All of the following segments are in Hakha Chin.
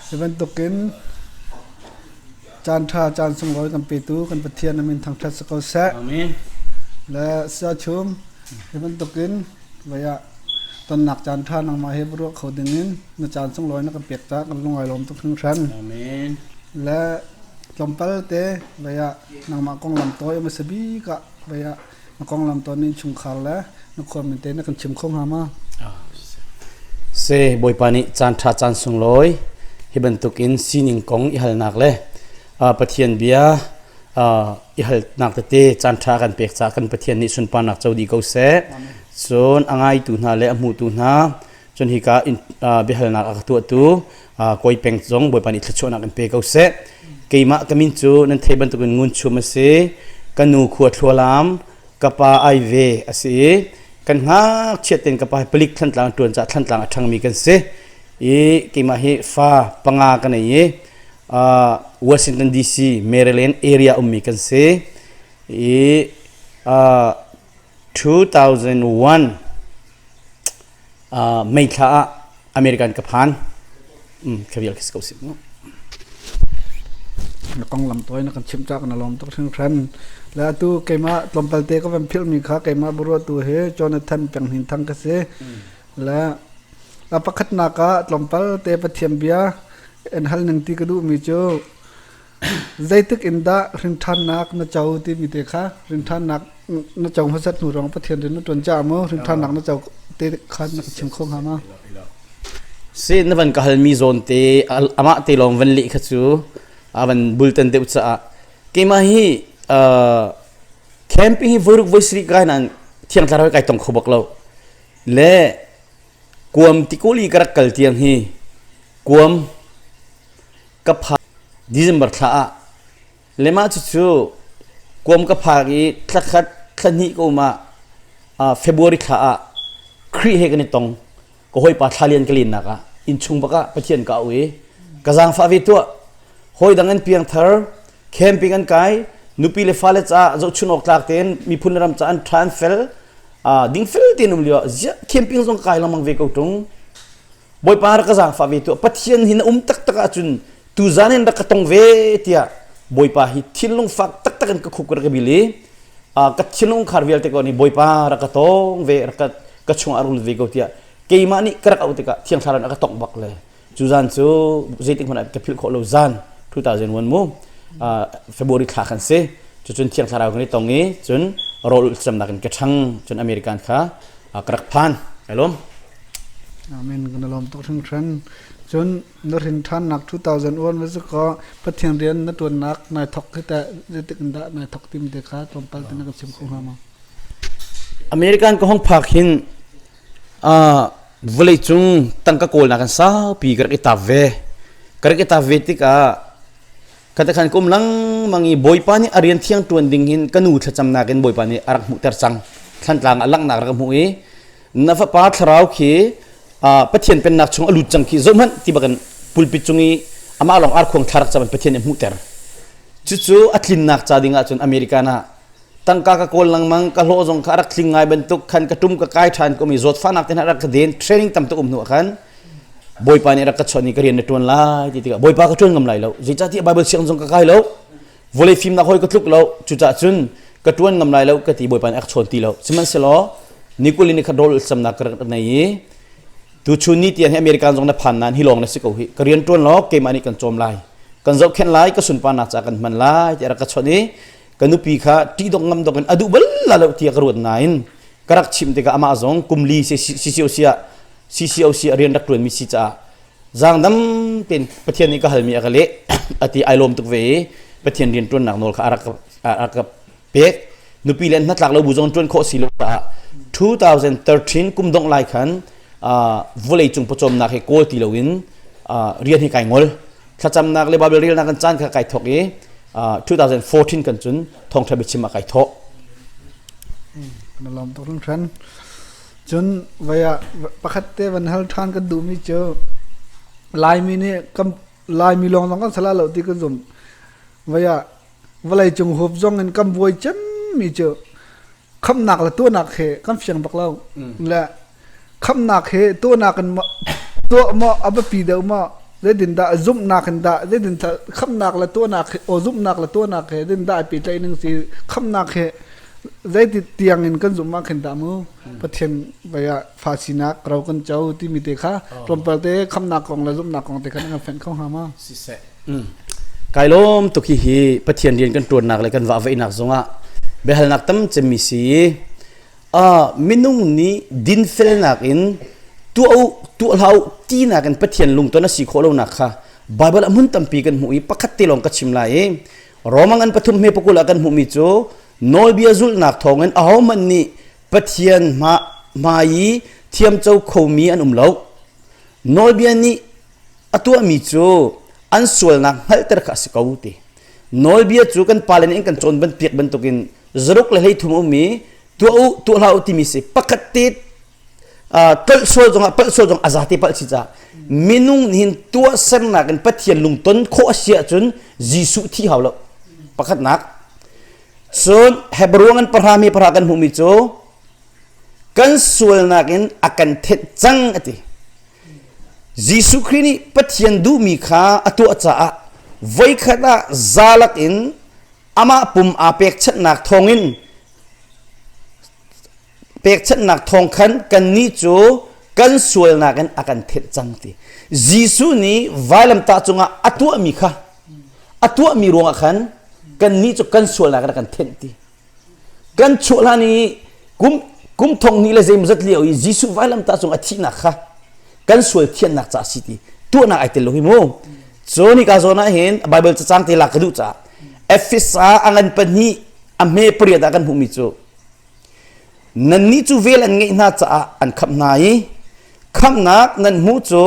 Hi bantukin caanṭha caan sunglawi kan petu kan Pathian amin thangṭhat si ko seh. Amen. Le siachum hi bantukin vaya tonnak caanṭha nangmah he va ruah kho dingin na caan sunglawi na kan pek ta kan lungai lawm tuk hringhran amen le tlawmpal te vaya nangmah konglam toi ma sabi ka vaya na konglam ton in chungkhar le na khual min te na kan chim kho nga ma se bawipa nih caan tha caan sunglawi hi bantuk in sining kong i halnak le pathian bia i halnak tete caan tha kan pek ca kan pathian nih sunparnak co di ko se cun a ngaitu hna le a hmutu hna Cun hika in biahalnak a ka tuahtu Kawi Peng zong Bawipa nih thluachuahnak in pe ko seh. Keimah ka min cu nan thei bantukin ngun chum a si. Ka nu khua thlualam, ka pa ai ve a si i kan ngakchiat tein ka pa hi palik thantlang ṭuan caah thantlang a ṭhangmi kan si. I keimah hi fa panga ka nei i Washington DC, Maryland area ummi kan si. I 2001 uh, May thla ah American ka phan um, ka vial kis ko si mu na kong lam toy na kan chim chak na lom tok sing khan la tu keima tlompal te ko van phil mi kha keima buru tu he Jonathan peng hin thang ka se la a pakhat na ka tlompal te pathiam bia en hal ning ti ka du mi chu Zeitik in dah hrinthannak na co timi te kha hrinthannak na co hmasat hnu rang Pathian rian na ṭuan caah maw hrinthannak na co te kha na ka chim kho hnga ma? Si na van ka halmi zawn te amah te lawng van leh kha cu a van bultan deuh caah keimah hi camp hi voiruk voisarih kai nan thiang tlarau kai tong kho bak lo le Kuam tikuli ka rak kal tiang hi kuam ka phak December thla ah le mah cucu kuam ka phak i thla khat thla hnih ka um ah ah February thla ah Khrih he kan i tong ka hawipa thla lian ka lennak ah inn chung bak ah Pathian ka auh i ka zaangfah ve tuah hawidang an piangthar camping an kai nupi le fale caah zohchun awk tlak tein miphun le ram caah an tha an fel uh, dingfel tein um lio ziah camping zong kai lengmang ve ko tung bawipa rak ka zaangfa ve tu pathian hin um taktak ahcun tu zan hin rak ka tong ve tiah bawipa hi thinlung fak taktak in ka khup ka bil i ka thinlung khar vial te ko ni bawipa rak ka tong ve rak ka ka chung arul ve ko tiah keimah nih ka rak auh tikah thiang thlarau aka tong bak le cu zan cu zeitik hmanh ah ka philh khawh lo zan 2001 mu February thla khan si cucun thiang thlarau kan i tong i cun rawl ulcamnak in ka ṭhang cun American kha ka rak phan ai lawm Amen kan lawm tuk hring hren cun na rin ṭhannak 2001 va zu ko Pathian rian na ṭuannak nai thok hi teh zeitik in dah nai thok tim te kha tlawmpal te na kan sim kho hnga ma American ka hong phak hin vawlei cung tangka kawlnak kan saupi ka rak i tap ve ka rak i tap ve tikah kata khan kum lengmang i bawipa nih a rian thiang ṭuan ding hin ka nu thlacamnak in bawipa nih a rak hmuhter cang thlantlang a langhnak rak hmuh i na fapa thlarau khi pathian pennak chung a lut cang khi zohhmanh ti bakin pulpit cung i amah lawng ar khuang thla rak caban pathian in hmuhter cucu a tlinnak ca ding ahcun American ah tangka ka kawl lengmang ka hlawh zong kha a rak tling ngai bantuk khan ka tum ka kai ṭhan komi zawtfahnak te hna rak ka den training tam tuk um hnu ah khan bawipa nih rak ka chawnh i ka rian na ṭuan lai ti tikah bawipa ka ṭuan ngam lai lo zeicahtiah bible siang zong ka kai lo vawlei fimnak hoi ka tluk lo cucah cun ka ṭuan ngam lai lo ka ti bawipa nih a ka chawn ti lo sihmanhsehlaw nikul in khat rol samnak ka rak nei i tuchun ni tian hi american zong na phan nan hi lawng na si ko hi ka rian ṭuan law keimah nih kan cawm lai kan zohkhenh lai ka sunparnak ca kan hman lai ti a rak ka chawnh i ka nupi kha ṭihdok ngam dok in a duh bal la lo tiah ka ruat nain ka rak chim tikah amah zong kumli sisio siah sisio siah rian rak ṭuanmi si caah zaangdam tein Pathian nih ka halmi a ka leh a ti ai lawm tuk ve i Pathian rian ṭuannak nawl kha a rak a ka pek nupi le hnatlak lo bu zong ṭuan khawh si lo caah 2013 kum dongh lai khan vawleicung pawcawmnak hi kawl ti loin rian hi kai ngol thlacamnak le Baibal relnak kan caan kha kai thawk i uh, 2014 kan cun thawngṭha biachim ah kai thawh kana lom to ran than chun vaya pakhat te van hal than kan du mi chu laimi ni kam laimi long long kan sala lo ti kan zum vaya valai chung hop zong in kam buai chem mi chu khamnak le tuahnak he kan fiang bak lo le khamnak he tuahnak in tuah maw a biapi deuh maw zeidin dah zumhnak in dah zeidin khamnak le tuahnak he o zumhnak le tuahnak he zeidin dah pe tlai ning si khamnak he zeiti tiang in kan zumma khin da mu pathian vaya fa sinak ro kan cho timi te kha tlawmpal te khamnak kong le zumhnak kong te khan kan fen kho ha ma si se kai lawm tuk hi hi pathian rian kan ṭuannak le kan vahvaihnak zongah biahalnak tam cemmi si i ah minung nih dinfelnak in tuah u tuah hlah u tinak in pathian lungton a si khawh lonak kha Baibal a hmun tampi kan hmuh i pakhat te lawng ka chim lai i Romang an pathum he pakul ah kan hmuhmi cu nawlbia zulhnak thawngin ahohmanh nih pathian hma hmai i thiamco khomi an um lo nawlbia nih A tuahmi cu an sualnak hngalhter kha a si ko ti. Nawlbia cu kan pale nih an kan cawn bantuk bantukin zaruk le hleithum a um i tuah u tuah hlah u timi si pakhat te tolh sual zongah palh sual zong a za te palh si caah minung nih hin tuahsernak in Pathian lungton khawh a si ahcun Jesuh thi hau lo pakhatnak cun Hebrew an pahram i pahra kan hmuhmi cu kan sualnak in a kan thenh cang a ti Jesuh Khrih nih Pathian duhmi kha a tuah caah voikhat ah zalak in amah pum aa pekchanhnak thawngin pekchanhnak thawng khan kannih cu kan sualnak in a kan thenh cang ti Jesuh nih vailamtah cungah a tuahmi kha a tuahmi ruangah khan kannih cu kan sualnak in a kan thenh ti Kan chuah hlan i kum kum thong hnih le zeimawzat lio i Jesuh vailamtah cung a thihnak kha kan sual thiannak ca a si ti tuahnak ai tel lo hi mu. Cun hika zawn ah hin Baibal cacang te lak ka duh caah Efes ah a ngan pahnih a hme pariat ah kan hmuhmi cu nannih cu vel an ngeih hna caah an khamh hna i khamhnak nan hmuh cu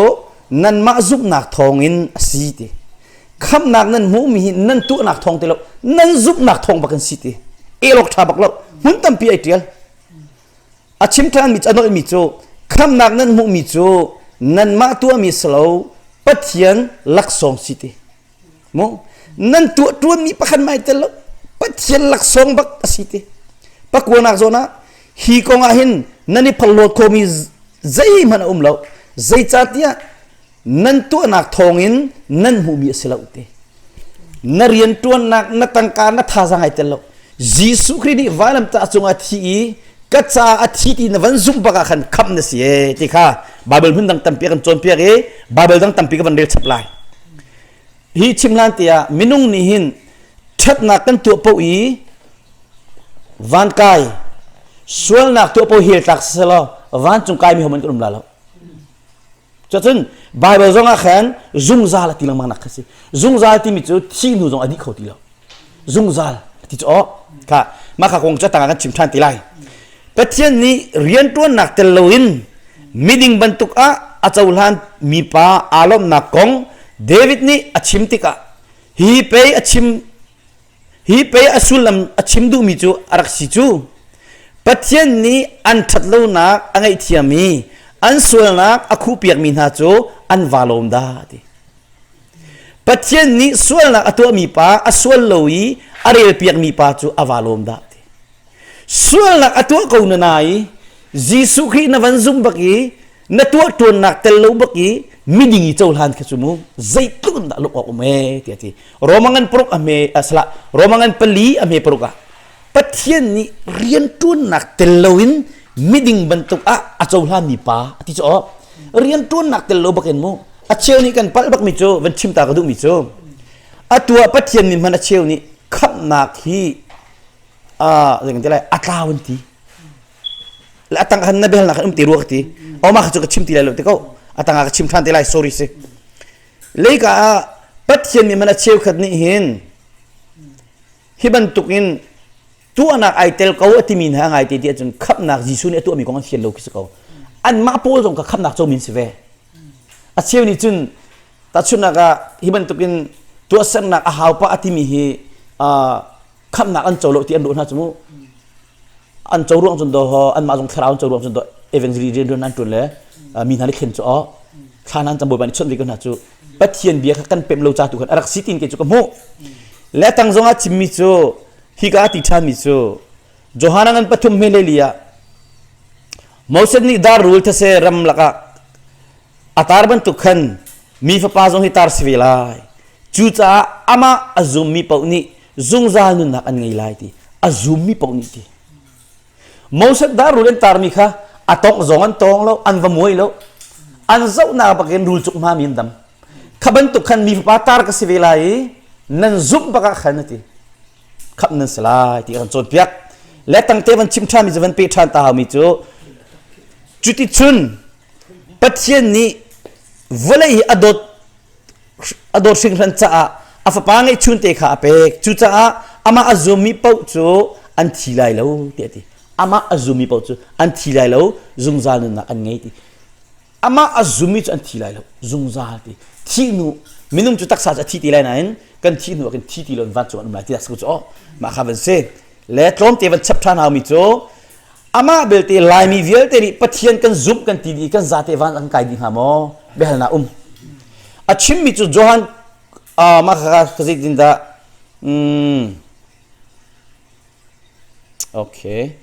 nanmah zumhnak thawngin a si ti khamhnak nan hmuhmi hi nan tuahnak thawng ti lo nan zumhnak thawng bak in si ti elok ṭha bak lo hmun tampi ai ṭial a chim ṭhanmi a nolmi cu khamhnak nan hmuhmi cu nanmah tuahmi si lo pathian laksawng si ti Mo nan tuah ṭuanmi pakhat mai tel lo Pathian laksawng bak a si te. Pakuanak zawn ah hi kong ah hin nan i phalhlawt khomi zeihmanh a um lo. Zeicahtiah nan tuahnak thawngin nan hmuhmi a si lo te. Na rianṭuannak, na tangka, na thazaang ai tel lo. Jesuh Khrih nih vailamtah cungah thi i ka ca a thi ti na van zumh bak ah khan khamh na si e ti kha Baibal hmun dang tampi kan cawnpiak i Baibal dang tampi ka van rel chap lai. Hi chim hlan te ah minung nih hin ṭhatnak kan tuah paoh i van kai sualnak tuah paoh hel tlak selaw vancung kai mi homan kan um la lo. Cacun Baibal zongah khan zungzal a ti lengmang nak kha si. Zungzal timi cu thih hnu zong a dih kho ti lo. zungzal ti cu awk kha mah kha kong cu tangah kan chim ṭhan ti lai Pathian nih rianṭuannak tel loin miding bantuk ah a cohlan mipa aa lawmhnak kong David nih a chim tikah hi pei a chim hi pei a sullam a chim duhmi cu a rak si cu Pathian nih an ṭhat lonak a ngaihthiam i an sualnak a khuhpiakmi hna cu an va lawm dah ti Pathian nih sualnak a tuahmi pa a sual lo i a relpiakmi pa cu a va lawm dah ti. Sualnak a tuah ko na nai Jesuh Khrih na van zum bak i na tuah ṭuannak tel lo bak i miding i cohlan kha cu mu zeitluk in dah luk awk um e tiah ti Roma ngan paruk a hme a sala Roma ngan pali a hme paruk ah Pathian nih rianṭuannak tel loin miding bantuk ah a cohlami pa a ti cu awk rianṭuannak tel lo bakin mu a cheu nih kan palh bakmi cu van chim ta ka duhmi cu a tuah Pathian nih hman a cheu nih khamhnak hi a tlau an ti a tang khan na bialnak um ti rua ka ti oma kha cu ka chim ti lai lo te ko a tang ka chim ṭhan te lai sorry si leika ah Pathian nih man a cheu khat nih hin Hi bantukin tuahnak ai tel ko a timi hna ngaite ti ahcun khamnak Jesuh nih a tuahmi kong an fial lo khi si ko. Anmah pawl zong ka khamnak co min si ve. A cheu nih cun tahchunhnak ah hi bantukin tuahsernak a haupa a timi hi uh, khamnak an co lo ti an ruah hna cu mu. an co ruang cun do an mah zong thlarau co ruang cun do evangelist rian an ṭuan le mi hna nih khen cu oh thla nan cabawi ban i chawnh ve ko hna cu pathian bia kha kan pem lo ca tu khan a rak si tin ke cu ka hmuh le tang zong a chimmi cu hi ka ti ṭhan mi cu Johanna ngan pathum hme le li ah Moses nih dar rul thase ram lakah a tar bantuk khan mi fapa zong hi tar si ve lai cu caah amah a zum mi paoh nih zungzal nunnak an ngei lai ti a zummi paoh nih ti Moses dah rul an tarmi kha a tawk zong an tawng lo an va muai lo an zohnak bakin rul cuk hma mi an dam kha bantuk khan mi fapa tar ka si ve lai i nan zumh bakah khan ti khap nan si lai ti kan cawnpiak le tangte van chim ṭhan mi zavan pe ṭhan ta mi cu cuti chun Pathian nih vawlei hi a dawt a dawt hring hran caah a fapa ngeihchun te kha a pek cucaah amah a zummi paoh cu an thi lai lo ti a ti amah a zummi paoh cu an thi lai lo zungzal nunnak an ngei ti amah a zummi cu an thi lai lo zungzal ti thi hnu minung cu taksa cu a thi ti lai nain kan thi hnu ah kan thi ti lo in vancung an um lai ti tak cu oh mah kha van si le tlawmte van chap ṭhan haumi cu Amah belte Laimi vialte nih Pathian kan zumh kan ti dih kan zate van an kai dih hnga maw biahalna um a chimmi cu Johan uh, mah kha ka zeitin dah mm, okay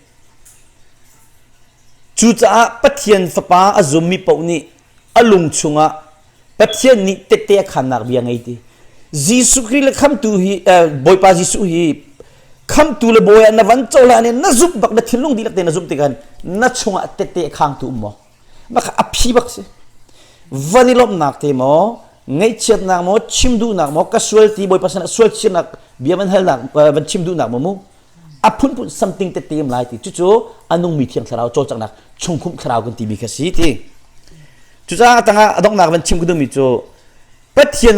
cucaah Pathian fapa a zummi paoh nih a lung chungah Pathian nih tette a khannak bia ngei ti Jesuh Khrih le khamtu hi Bawipa Jesuh hi khamtu le bawi ah na van cohlan i na zumh bak na thinlung dihlak te na zumh tikhan na chungah tette a khangtu um maw maka a phi bak si van i lawmhnak te maw ngaihchiatnak maw chim duhnak maw ka sual ti bawipa sinah sual chirnak bia van halnak van chim duhnak maw mu a phunphun something te tem lai ti cucu a nungmi thiang thlarau cawlcanghnak chungkhum thlarau kan timi kha si ti cucaah tangah a donghnak van chim ka duhmi cu pathian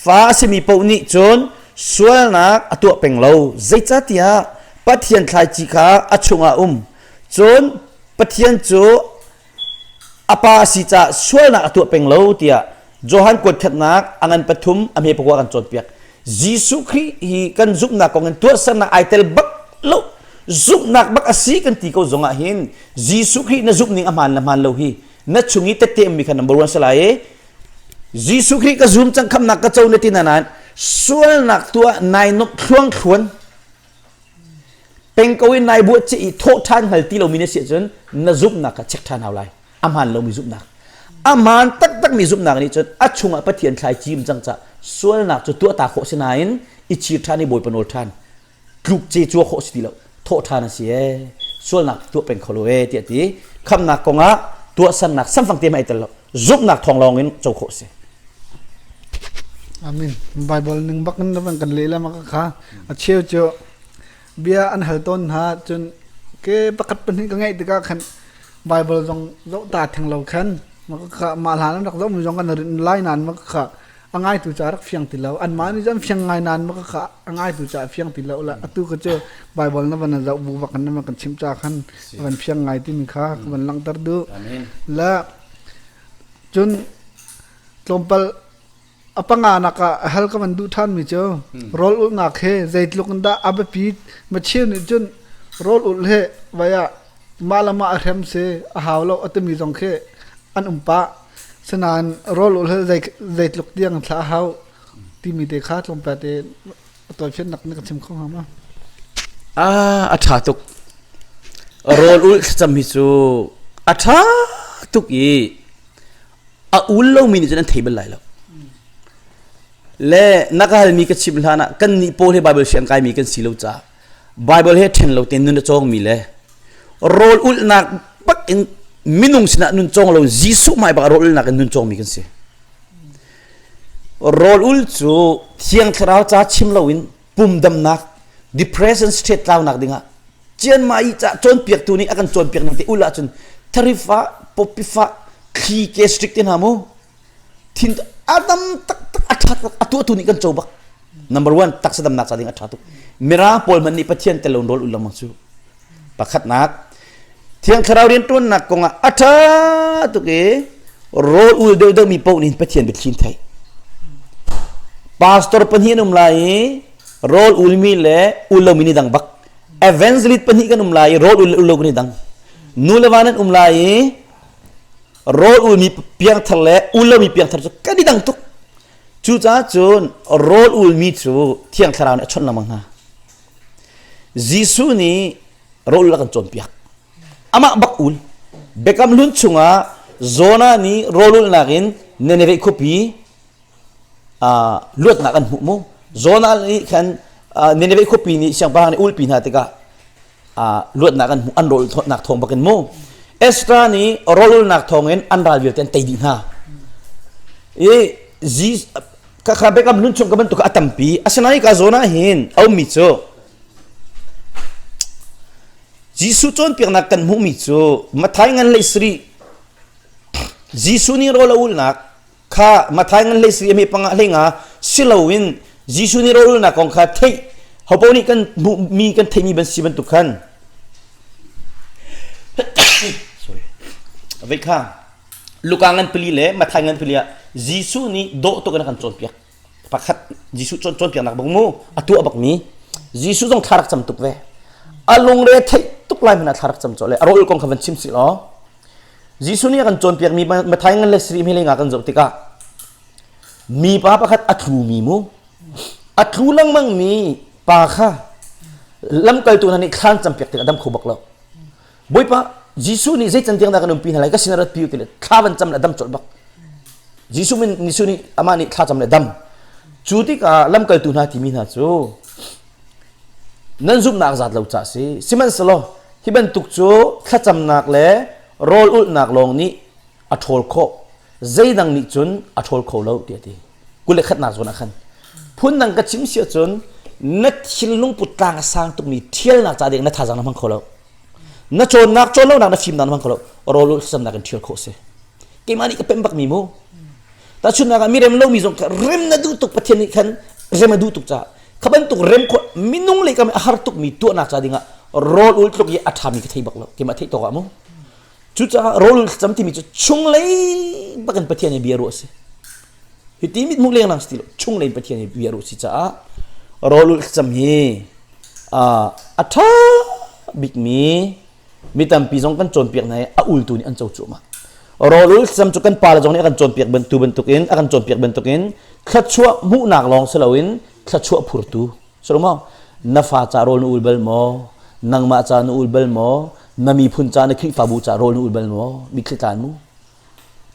fa a simi paoh nih cun sualnak a tuah peng lo zeicatiah pathian thlaici kha a chungah um cun pathian cu a pa a si caah sualnak a tuah peng lo tiah Johan kuatṭhatnak a ngan pathum a hme pakua kan cawnpiak. Jesuh Khrih hi kan zumhnak kong in tuahsernak ai tel bak lo zumhnak bak a si kan ti ko zong ah hin Jesuh Khrih na zumh ning a hmaan le hmaan lo hi na chung i tetteem mi kha number one se lai i Jesuh Khrih ka zum cang khamnak ka co na ti na nan sualnak tuah nai nup thluang thluan Peng ko in nai buah ci i thawh ṭhan hngal ti lomi na si ahcun na zumhnak kha check ṭhan hau lai. A hmaan lomi zumhnak. A hmaan taktakmi zumhnak nih cun a chungah Pathian thlai cim cang cah sualnak cu tuahta khawh si nain i chir ṭhan i bawipa nawl ṭhan tluk ce cua khawh si ti lo thawh ṭhan a si ee sualnak tuah peng kho lo ee tiah ti khamnak kongah tuahsernak samfang te hmai tel lo zumhnak thawng lawng in co khawh si amin bible ning bak in kan leh le maka kha a cheu cu bia an hal tawn hna cun ke pakhat pahnih ka ngeih tikah khan Baibal zong zoh ta theng lo khan maka mah hlan an rak zoh mi zong kan rin lai nan maka a ngaitu ca rak fiang ti lo an mah nih cun fiang ngai nan maka a ngaitu ca fiang ti lo la atu ka cu Baibal na van zoh bu bak na kan chim ca khan a van fiang ngai ti mi kha ka van langhter du la cun tlawmpal A panganak ah a hal ka van duh ṭhanmi cu rawl ulhnak hi zeitluk in dah a biapit machir nih cun rawl ulh hi vai ah mah le mah a hrem si a hau lo a timi zong khi an um pah. Sinain rawl ulh hi zei zeitluk tiang in thlah a hau timi te kha tlawmpal te a tawifiannak na ka chim kho hnga ma? Ah, a ṭha tuk. Rawl ulh thlacam hi cu a ṭha tuk i a ul lomi nih cun an thei bal lai lo le na ka halmi ka chimh hlan ah kan nih paul he bible si an kaimi kan si lo caah bible he ṭhen lo tein nun a cawngmi le rawl ulhnak bak in minung sinah nun cawng lo jesuh hmai bak rawl ulhnak in nun cawngmi kan si rawl ul cu thiang thlarau ca chim loin pumdamnak depression state tlaunak dingah cianmah i cah cawnpiaktu nih a kan cawnpiak ning te ul ahcun tharif ah popif ah thli ke strict te hna mu thin a tam taktak a ṭha a tuahtu nih kan co bak number one taksa damnak ca ding a ṭha tuk mirang pawl man nih pathian tel lo rawl ul lengmang cu Pakhatnak Thiang Thlarau rianṭuannak kongah a ṭha tuk i rawl ul deuh deuhmi paoh nih Pathian biathlim thei. Pastor pahnih an um lai i rawl ulmi le ul lomi ni dang bak. Evangelist pahnih kan um lai i rawl ul le ul lomi ni dang. Nu le va nan um lai i rawl ulmi piangthar le ul lomi piangthar cu kan i dang tuk. Cucaah cun rawl ulmi cu Thiang Thlarau nih a chawnh lengmang hna. Jesuh nih rawl a kan cawnpiak. Amah bak ul. Biakam hlun chungah Jonah nih rawlulnak in Nineveh khuapi uh, luatnak an hmuh mu. Jonah nih khan uh, Nineveh khuapi nih siangpahrang nih ulpi hna tikah uh, luatnak an hmuh an rawlnak thawng bakin mu. Esther nih rawlnak thawngin an ral vialte an tei dih hna. I ka kha Biakam nun chung ka bantuk a tampi asinain ka zawn ah hin a ummi cu Jesuh cawnpiaknak kan hmuhmi cu Mathai ngan le sari Jesuh nih rawl a ulnak kha Mathai ngan le sari a me panga hlenga si loin Jesuh nih rawl ulnak kong kha theih hopo nih kan hmuhmi kan theihmi ban si bantuk khan sorry a vei kha Luka ngan pali le Mathai ngan pali ah Jesuh nih dawh tuk in a kan cawnpiak. Pakhat Jesuh cawn cawnpiaknak bang mu a tuah bakmi Jesuh zong thla rak cam tuk ve. A lungre theih tuk lai hmanh ah thla rak cam cawlh le a rawl kong kha van chim sih law Jesuh nih a kan cawnpiakmi Mathai ngan le Sirih mileng ah kan zoh tikah mipa pakhat a tlumi mu a tlu lengmangmi pa kha lamkaltu hna nih thlan campiak tikah dam kho bak lo. Bawipa Jesuh nih zei can tiang dah kan umpi hna lai ka sinah rat pi u tile thla van cam le dam colh bak Jesuh min Jesuh nih amah nih thla cam le dam cu tikah lamkaltu hna timi hna cu nan zumhnak zat lo ca si sihmanhselaw hi bantuk cu thlacamnak le rawl ulhnak lawng nih a ṭhawl khawh zeidang nih cun a ṭhawl kho lo tiah ti kule khatnak zawn ah khan phundang ka chim si ahcun na thil lungput tlang a sang tukmi ṭhialnak ca ding na thazang na hmang kho lo na cawnnak cawn lonak na fimnak na hmang kho lo rawl hlamnak in ṭhial khawh si keimah nih ka pemh bak mi mu tahchunnak ah mi rem lomi zong ka rem na duh tuk pathian nih khan rem a duh tuk caah kha bantuk rem khawh minung le kam a har tukmi tuahnak ca dingah rawl ul tluk i a ṭhami ka thei bak lo keimah theih tawk ah mu Cucaah rawl thlacam timi cu chunglei bakin Pathian he biaruah a si. Hiti mit hmuh lenglang si ti lo. Chunglei in Pathian he biaruah a si caah rawl thlacam hi a ṭha bikmi mi tampi zong kan cawnpiak hna i a ultu nih an co cuahmah. Rawl thlacam cu kan pale zong nih a kan cawnpiak bantu bantukin a kan cawnpiak bantukin thluachuah hmuhnak lawng si loin thluachuah phurtu Solomong na fa ca rawl na ul bal maw? Nangmah ca na ul bal maw? Na miphun ca na Khrihfabu ca rawl na ul bal maw? Mitthli tlan mu.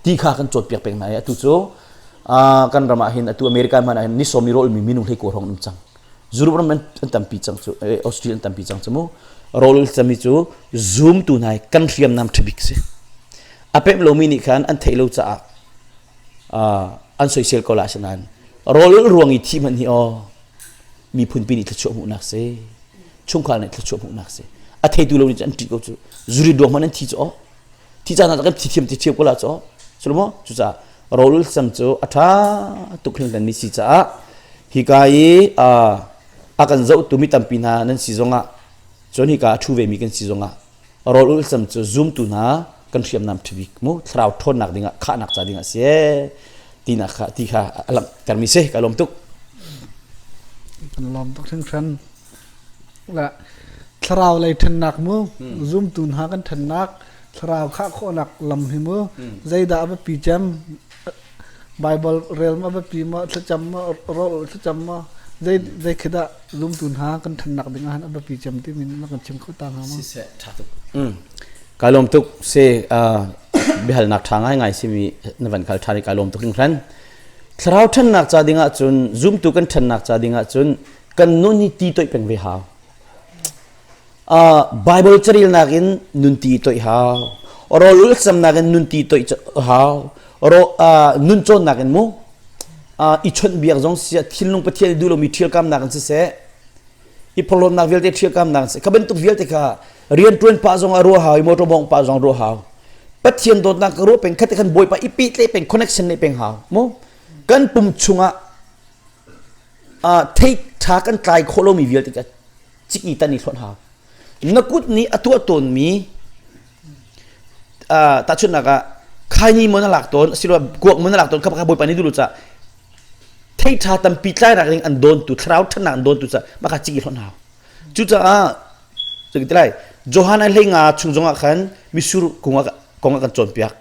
Ti kha kan cawt piak peng hna i atu cu kan ram ah hin atu America hmanh ah hin nisom i rawlmi minung hleiko hrawng um cang. Europe ram an tampi cang cu Australia an tampi cang cu mu. Rawl cami cu zoomtu hna i kan hriamnam ṭhabik si. A pemh lomi nih khan an theih lo caah an soisel ko la si nain rawl ruang i thi hmanh hi aw miphunpi nih thluachuah hmuhnak si chungkhar nih thluachuah hmuhnak si a theitu lo nih an ṭit ko cu zuri duang man an thi cu thi ca hna kan thithiam thithiam ko la cu sulaw cucaah rolul sang cu a ṭha tuk hin kan ni si caah hika i a kan zohtu mi tampi hna nan si zongah cun hika a ṭhu vemi kan si zongah rawl ulcam cu zumtu hna kan hriamnam ṭhabik mu thlarau ṭhawnnak dingah khahnak ca dingah a si tinak kha ti kha a langhtermi si ka lawm tuk kan lawm tuk hringhran la thlarau lei ṭhennak mu zumtu hna kan ṭhennak thlarau khah khawhnak lam hi mu zeidah a biapi cem Baibal rel maw biapi maw thlacam maw rawl thlacam maw zei zeikhat ah lumtu hna kan ṭhannak dingah han a biapi cem timi na kan chim kho ta hnga maw? Siseh ṭha tuk. Kai lawm tuk se biahalnak ṭha ngaingai simi na van kal ṭhan i kai lawm tuk ding hran. Thlarau ṭhannak ca dingah cun zumtu kan ṭhannak ca dingah cun kan nun hi ti toih peng ve hau. Baibal carilnak in nunti toih hau. Rawl ulcamnak in nunti toih hau. Nun cawnnak in mu i chawnh biak zong si thinlung pathian duh lomi ṭhialkamnak in siseh i porhlawtnak vialte ṭhialkamnak in siseh kha bantuk vialte kha rianṭuan pah zong ah ruah hau i motor bawng pah zong ruah hau pathian dawtnak ka ruah peng khatte khan bawipa i pitle peng connection ne peng hau mu kan pum chung ah thei ṭha kan tlai khawh lomi vialte ciki tan i hlonh ha na kut nih a tuah tawnmi tahchunhnak ah khaini maw na lak tawn asiloah kuak maw na lak tawn kha bawi pa ni dulu ca theitha tampi tlairak ning an dawn tu thlarau thannak an dawn tu ca maka ciki hlonh hau cucaah ciki ti lai johan ai hleinga chung zongah khan misur kungah kongah kan cawnpiak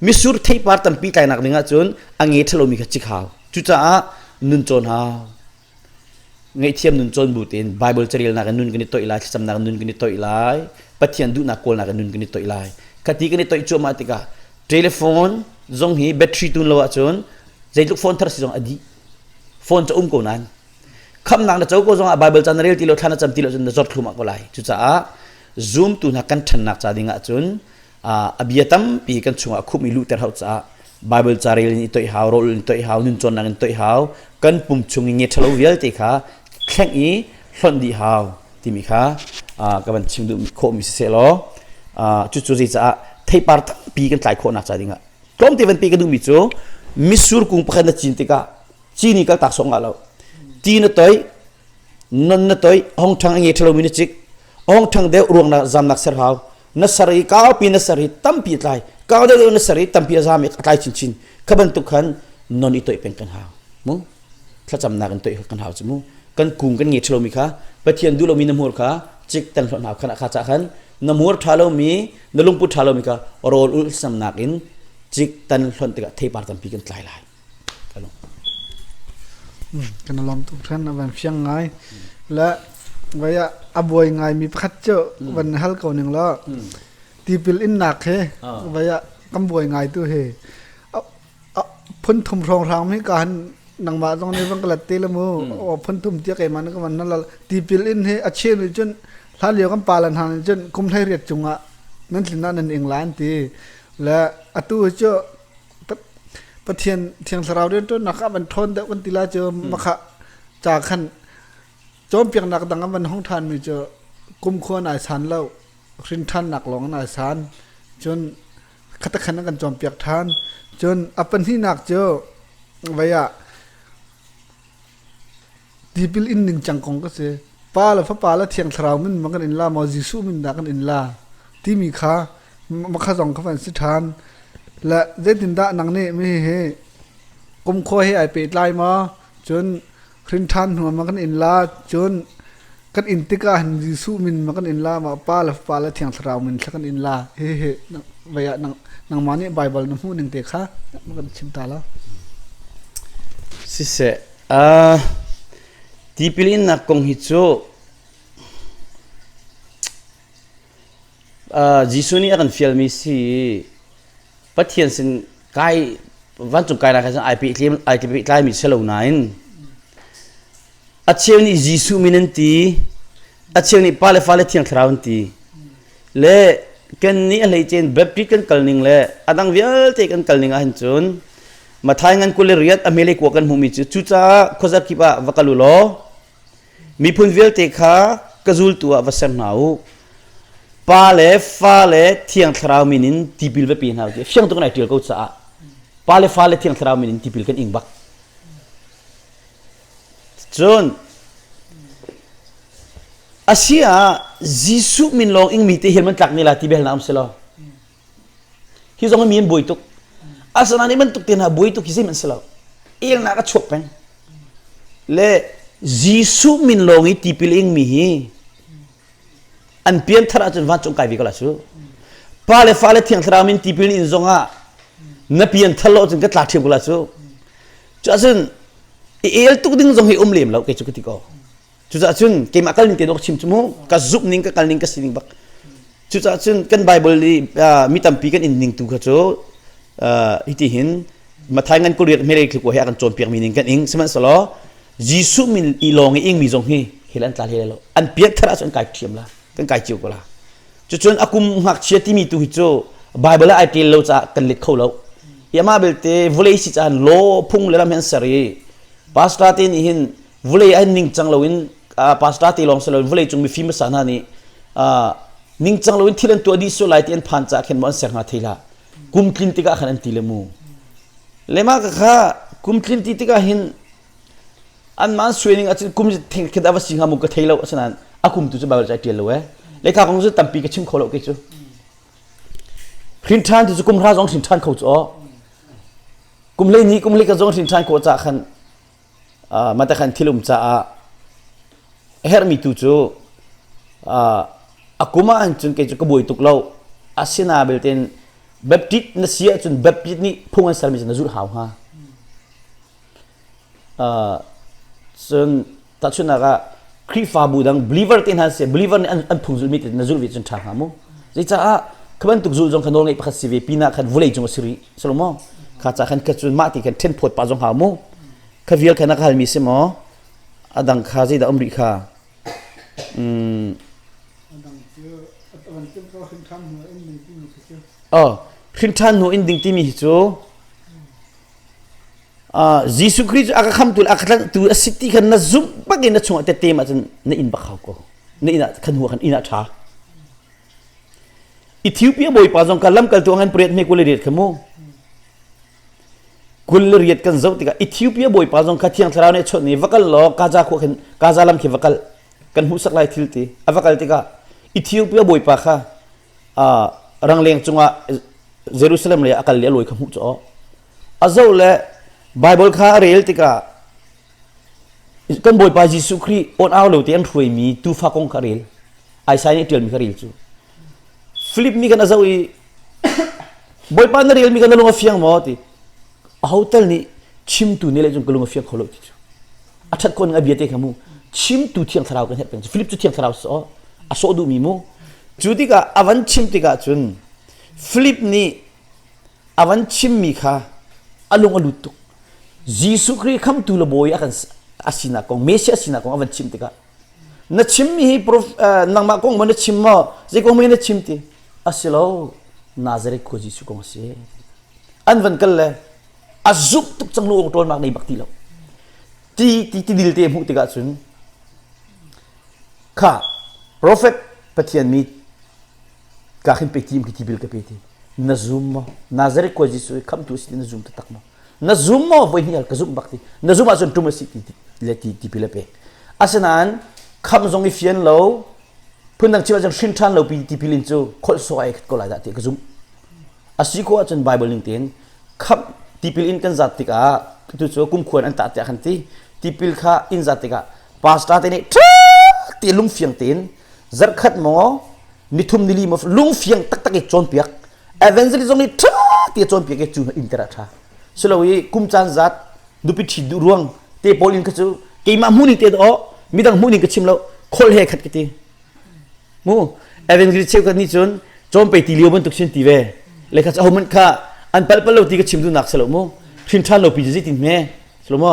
misur theipar tampi tlainak ning ahcun ange thalomi kha cik hau cucaah nun cawn hau Ngaihthiam nun cawn bu tein Baibal carelnak in nun kan i toih lai, thlacamnak in nun kan i toih lai, Pathian duhnak kawlnak in nun kan i toih lai. Khati kan i toih cuahmah tikah telephone zong hi battery tun lo ahcun zeitluk phone thar si zong a dih. Phone cu um ko nain khamnak na co ko zongah Baibal ca na rel ti lo, thla na cam ti lo cun na zor thlumah ko lai. Cucaah zumtu hna kan ṭhannak ca ding ahcun a bia tampi kan chungah a khum i luhter hau caah Bible carel in i toih hau rawl in toih hau nun cawnnak in toih hau kan pum chung i nge ṭhalo vialte kha thleng i hlonh dih hau timi kha ka van chim duh khawhmi si seh law cucu zeicah theipar tampi kan tlai khawhnak ca dingah tlawmte vanpi ka duhmi cu misur kung pakhat na cin tikah cini kaltak sawng nga lo ti na toih non na toih hong ṭhang a nge ṭhalomi na cik hong ṭhang deuh ruangnak zamnak ser hau na ser i kaupi na ser i tampi a tlai kau deuh na ser i tampi a zam i a tlai chinchin kha bantuk khan non i toih peng kan hau mu thlacamnak in toih kan hau cu mu kan kung kan ngei ṭhalomi kha pathian duh lomi na hmur kha cik tan hlon hau khan kha ca khan na hmur ṭha lomi na lungput ṭha lomi kha rawl ulh samnak in cik tan hlon tikah theipar tampi kan tlai lai Kan i lawm tuk ṭhan. A van fiang ngai. Le voi ah a buai ngaimi pakhat cu van na hal ko ning law tipil innak he voi ah kan buai ngai tu hi a a phun thum hrawnghrang mi ka han nangmah zong nih van ka lat te la mu aw phun thum tia keimah nih ka van na lal tipil in hi a cheu nih cun hlan lio kan palan hna nih cun kum hlei riat cung ah nan tlin ah nan ing la an ti le atu cu Pathian Thiang Thlarau rianṭuannak ah van ṭhawn deuh kan ti la cu makhah ca khan cawnpiaknak dang a van hung ṭhanmi cu kumkhua nai san lo hrin ṭhannak lawng nai san cun khatakhan an kan cawnpiak ṭhan cun a pahnihnak cu vei ah Tipil in ningcang kong ka si. Pa le fapa le thiang thlarau min van kan in la maw Jesuh min dah kan in la timi kha makha zong kha van si ṭhan. Le zeitindah nang nih mi hi kumkhua he ai pehtlai maw? Cun hrinthan hnuam ah kan in la, cun Kan in tikah hin Jesuh min ma kan in la ma Pa le Fapa le Thiang Thlarau min thla kan in la hihi vei ah nang, nangmah nih Baibal na hmuh ning te kha ma kan chim ta lo. Siseh, uh, tipil innak kong hi cu uh, Jesuh nih a kan fialmi si i Pathian sin kai vancung kai nak khan ai pe ai pe tlai mi si lo nain a cheu nih Jesuh min an ti a cheu nih pale fale thiang thlarau an ti le kan nih a hleicein Baptist kan kal ning le a dang vialte kan kal ning ah hin cun mathai ngan kule riat a mele kuwa kan hmuhmi cu cucaah khuazak kip ah va kal u law Miphun vialte kha ka zultu ah va ser hna u. Pa le fa le thiang thlarau min in tipil va pe hna u ti fiang tuk in ai ṭial ko caah pa le fa le thiang thlarau min in tipil kan ing bak. Cun a si ah Jesuh min lawng ingmi te hian man tlak ni la ti bel na um si lo. Hi zong mi an buai tuk. Asana nih bantuk tein buai tuk hi zeim an si lo. Elnak a chuak peng. Le Jesuh min lawng i tipil ingmi hi an pianthar ahcun vancung kai ve ko la cu. Pa le fa le thiang thlarau min tipil in zongah na pianthar lo cun ka tla ṭhiam ko la cu. Cu ahcun i el tuk ding zong hi um lem lo kei cu ka ti ko. Cucaah cun keimah kal ning tein rak chim cu mu ka zumh ning ka kal ning ka si ning bak cucaah cun kan Bible i mi tampi kan in ning tu kha cu hiti hin Mathai ngan kuriat hmelei thlukua he a kan cawnpiakmi ning kan ing sihmanhsehlaw Jesuh min i lawng i ingmi zong hi hel an tla hlei lo an piat thar ahcun kai thiam la kan kai cio ko la cucun a kum ngakchia timi tu hi cu Bible ai tel lo caah kan let kho lo hi amah belte vawlei si caan law phung le lam hi an ser i pastor te nih hin vulei an ningcang loin pastor te lawng si loin vulei cung mifim hmasa hna nih ningcang loin thil an tuah dih sual lai ti an phan caah khin maw an ser hnga thei la kum tlin tikah khan an ti le mu le mah ka kha kum tlin ti tikah hin an man suaning acun kum thing khin ava si hnga mu ka thei lo asinain a kum tu cu bible cai tial lo e le kha kong cu tampi ka chim kho lo ke cu hrin than tu cu kum hra zong hrin than kho cu kum le ni kum le ka zong hrin than ko ca khan Matakhan thilum caah a herhmi tu cu a kum ah cun kei cu ka buai tuk lo. Asina belte in Baptist na si ahcun Baptist nih phung an sermi cu na zulh hau hnga. cun tahchunhnak ah Khrihfabu dang believer te hna si believer nih an phung zulmi te na zulh ve cun ṭha hnga mu. Zeicah Kha bantuk zul zong kha nawl ngeih pakhat si ve pinah khan vawlei cung a si rih Solomon. Kha ca khan ka cun mah ti khan ṭhen phawt pah zong hau mu. Kha vial kha na ka halmi si maw? A dang kha zeidah um rih kha? Mm. Oh, hrinṭhan hnu in ding timi hi cu uh, Jesuh Khrih cu aka khamtu le aka tlangtu a si ti khan na zumh bakin na chungah tete ma cun na in bakhau ko na inn ah khan hua khan inn ah ṭha Ethiopia bawipa zong ka lamkaltu han pret me kule ret kha mu kul le riat kan zoh tikah Ethiopia bawipa zong kha thiang thlarau nih a chawnh i va kal law Gaza khua khin Gaza lam khi va kal kan hmuhsak lai thil ti a va kal tikah Ethiopia bawipa kha uh, rangleng cungah Jerusalem le a kal le a lawi kha hmuh cu awh a zo le Bible kha a rel tikah kan bawipa Jesuh Khrih on au lo ti an hruai mi tufa kong kha rel Isaiah nih ṭial mi kha rel cu Philip nih khan a zoh i Bawipa na relmi kha na lung a fiang maw ti aho tal nih chimtu nih le cun ka lung a fiang kho lo ti cu a ṭhat khawning a bia te kha mu chimtu thiang thlarau kan herh peng cu Filip cu thiang thlarau si aw a sawh duhmi mu cu tikah a van chim tikah cun Filip nih a van chimmi kha a lung a lut tuk Jesuh Khrih khamtu le bawi a kan a sinak kong Messiah sinak kong a van chim tikah na chimmi hi nangmah kong maw na chim maw zei kong maw na chim ti a si lo Nazareth khua Jesuh kong a si an van kal le a zumh tuk cang lu ong ṭawl mak nei bak ti lo ti ti ti dil te hmuh tikah cun kha profet pathian mi ka khin pe ti ki ti bil ka pe ti na zum maw Nazareth khua Jesuh khamtu si na zum ta tak maw na zum maw voi hnih ka zum bak ti na zum ahcun tum a si ti le ti ti pi le pe asinain kham zong i fian lo phundang chim ahcun hrin ṭhan lo pi ti pilin cu kholh so ai khat ko lai dah ti ka zum a si ko ahcun bible ning tein kham tipil in kan zat tikah tu cu kumkhuan an tah tiah kan ti tipil kha in zat tikah pastor te nih ṭha ti lungfiang tein zarkhat maw mithum nili ma lungfiang taktak i cawnpiak evangelism i tha ti cawnpiak i cu in tera tha silo i kum caan zat nupi ṭhin duh ruang te paul in kha cu keimah mu ning te daw midang mu ning ka chim lo khol he khat kiti mu evangelist cheu kan ni chun chompe ti lio bantuk sin ti ve le kha ho man kha an pal pal lo ti ka chim du nak selo mu thin than lo pi ji tin me selo mo